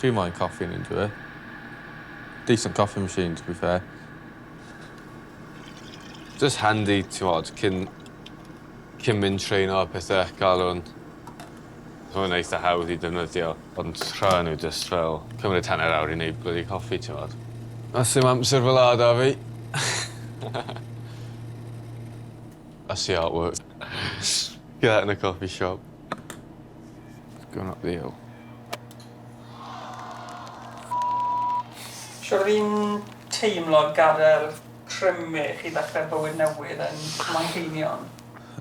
Chi moyn coffi yn un dwi? Decent coffee machine to be fair. Jyst handi t'mod cyn cyn mynd treno a pethe ca'l 'wn. Ma' fe'n eitha hawdd i defnyddio ond rhai o n'w jyst fel cymryd hanner awr i neud blydi coffi t'mod. A sdim amser fel 'a 'da fi. I see how it works. Get that in a coffee shop. It's gonna not be 'ell. Siŵr o fi'n teimlo gadael Crymu chi ddechrau bywyd newydd yn Manceinion?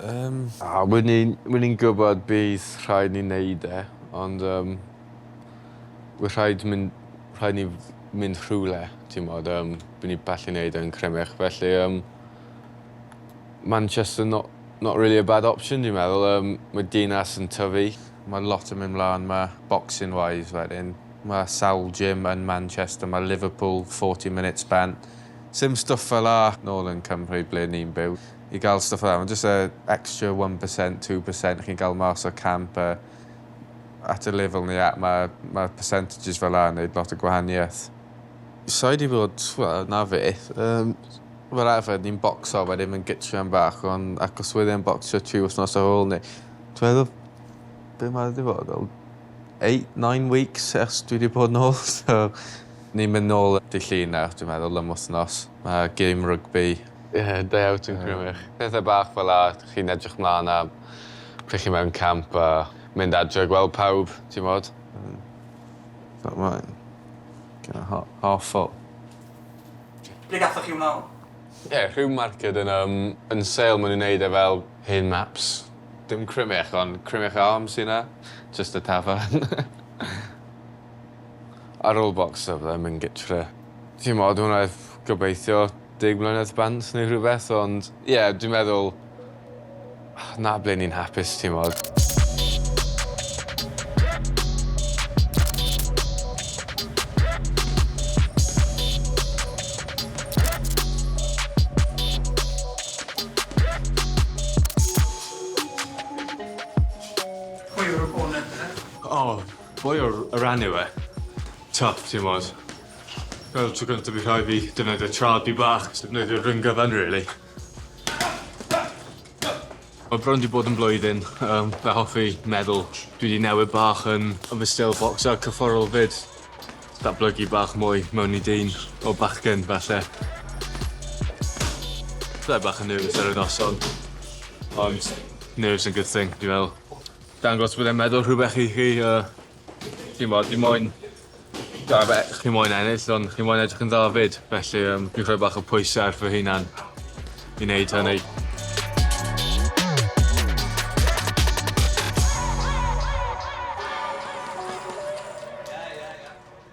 Yym. A wi ni wi ni'n gwybod bydd rhaid ni neud e ond yym we rhaid myn- rhaid ni f- mynd rhywle t'mod yym by' ni ballu neud e yn Crymych felly yym Manchester no- Not really a bad option dwi'n meddwl, yym mae dinas yn tyfu. Mae lot yn mynd mlan 'ma boxing wise wedyn ma' sawl gym yn Manchester ma' Liverpool forty minutes bant. Sim stwff fel 'a nôl yn Cymru ble ni'n byw. I ga'l stwff fel 'a ma' jyst y extra one percent two percent chi'n ga'l mas o camp a at y lefel ni at ma' ma' percentages fel 'a yn neud lot o gwahanieth. Sai 'di bod, wel, na fyth. Yym. Fel arfer ni'n bocso wedyn mewn gytreon bach ond achos wedd e'n bocsio tri wthnos ar ôl 'ny dwi meddwl be' ma' fe 'di bod fel eight nine weeks ers dwi 'di bod nôl so ni'n myn' nôl y- dy' Llun nawr dwi meddwl am wthnos ma' gêm rygbi Ie day out yn Crymych. Pethe bach fel 'a chi'n edrych mlan am pryd chi mewn camp a mynd adre a gweld pawb t'mod? Hmm. Fel mae'n kinda ha- half full. Ble gathoch chi hwnna o? Ie, rhyw marced yn yym yn sale ma' nw'n neud e fel hen maps. Dim Crymych ond Crymych Arms sy 'na. Jyst y tafarn. Ar ôl bocs o fydda mynd gytre. T'mod wnâi gobeithio deg mlynedd bant neu rhywbeth ond ie dwi'n meddwl 'na ble ni'n hapus t'mod? Pwy yw'r opponent te? O, pwy yw'r y ran yw e? Tough t'mod? Fel tro gynta fi rhoi fi defnyddio trad fi bach defnyddio rhyng gyfan rili. Mae bron wedi bod yn blwyddyn, um, fe hoffi meddwl. Dwi wedi newid bach yn, yn fy stil bocsio cyfforol fyd. Datblygu bach mwy mewn i dyn o bachgen, falle. Byddai bach yn nervous ar y noson, ond nerves yn good thing, dwi'n meddwl. Dangos bod e'n meddwl rhywbeth i chi, uh, Chi'n gwybod, fi moyn... Chi'n moyn ennill, ond chi'n moyn edrych yn dda 'fyd. Felly, um, fi'n rhoi bach o pwysau ar fy hunan i wneud hynny.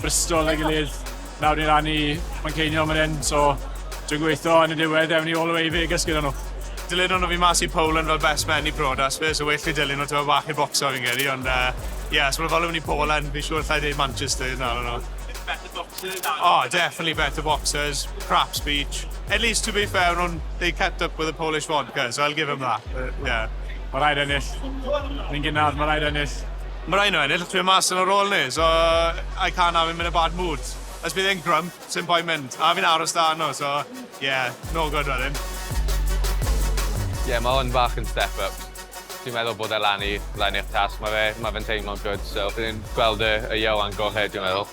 Bristol a'i gilydd. Nawr ni'n rannu Manceinion fan hyn, so dwi'n gweithio yn y diwedd ewn ni all the way i Vegas gyda nhw. Dilyn nhw fi mas i Poland fel best man i brodas fi, so well fi dilyn nhw tymed bach i bocso fi'n credu, ond yy ie, os ma' nhw'n follow ni Poland, fi'n siŵr allai dweud Manchester nawr o'n nhw. Better boxers are they? Oh, definitely better boxers, crap speech. At least to be fair o'n nhw'n, they kept up with the Polish vodka, so I'll give 'em that, ie. Ma' rhaid ennill. Ni'n gynnar, ma' rhaid ennill. Mae rhaid nhw ennill, dwi mas yn y rôl ni, so I can't have him in a bad mood. Os bydd e'n grump, sim point mynd, a fi'n aros 'da nhw, so ie, no good wedyn. Ie, mae hwn bach yn step up. Dwi'n meddwl bod e lan i fyddai'n eich tasg, mae fe, mae fe'n teimlo'n good, so bydd e'n gweld y Ieuan gorau, dwi'n meddwl.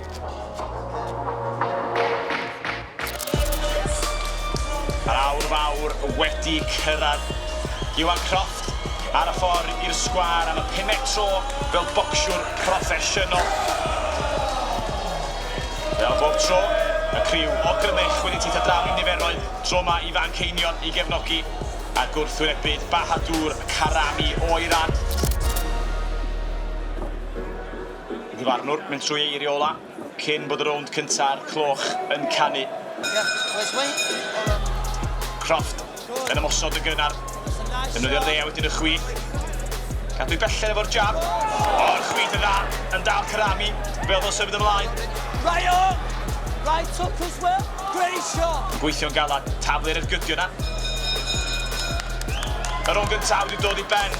Yr awr fawr wedi cyrraedd. Iwan Croft ar y ffordd i'r sgwâr am y pumed tro fel bocsiwr proffesiynol. Fel bob tro, y criw o Grymych wedi teithio draw i niferoedd tro ma i fan ceinion i gefnogi a gwrthwynebu'd Bahadur Karami o Iran. Y dyfarnwr mynd trwy ei eiriau ola cyn bod y rownd cynta a'r cloch yn canu. Croft yn ymosod yn gynnar. Defnyddio'r dde a wedyn y chwith. Cadw i belled efo'r jab. O'r chwith yn dda yn dal Karami fel oedd o'n symud ymlaen. Right on! Right hook as well. Great shot! Yn gweithio'n galad. Taflu'r ergydio yna. Y rownd gyntaf wedi dod i ben.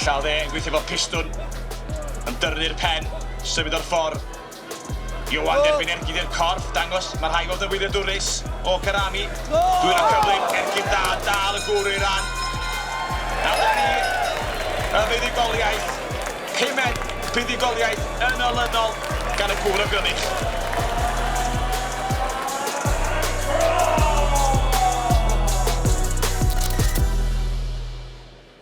Ella oedd e yn gweithio fel pistwn, yn dyrnu'r pen, symud o'r ffor. Ioan derbyn ergyd i'r corff, dangos, mae rhai weld yn wyliadwrus, o Karami. Dwylo cyflym, ergyd dda, dal y gwr o'i ran. A dyna ni, y fuddugoliaeth, pumed buddugoliaeth yn olynol gan y gŵr o Grynych.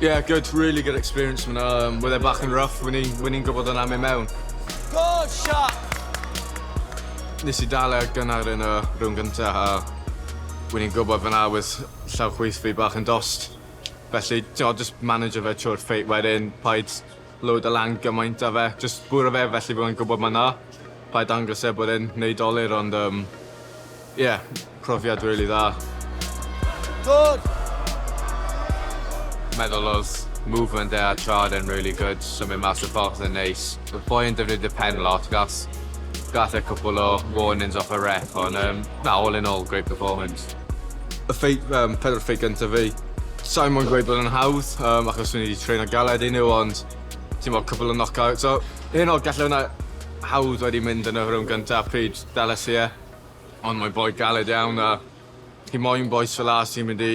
Yeah, good, really good experience fan'na. Yym, wedd e bach yn rough, wen i wen i'n gwbod hwnna'n mynd mewn. Good shot! Nes i dal e ar gynnar yn y rownd gynta a wen i'n gwbod fan'na wedd llaw chwith fi bach yn dost. Felly, t'mod, jyst manajo fe trwy'r feit wedyn, paid load o lan gymaint a fe jyst bwrw fe felly bo fe'n gwbod ma na rhaid dangos e bod e'n neud dolur ond yym ie profiad rili dda. Good! Meddwl odd movement e a trad e'n rili good symud mas o'r box yn neis. Odd boi yn defnyddio pen lot gath gath e cwpwl o warnings off y ref ond yym na all in all great performance. Y ffeit, um, pedwar ffeit gyntaf fi. Sa'n mwyn gweud bod yn hawdd, um, achos o'n i wedi train ar galed i nhw, ond ti'n bod cwbl o knockout. So, hyn o gallu hwnna hawdd wedi mynd yn y rhwng gyntaf pryd dales i e. Ond mae'n boi galed iawn a chi moyn boes fel as sy'n mynd i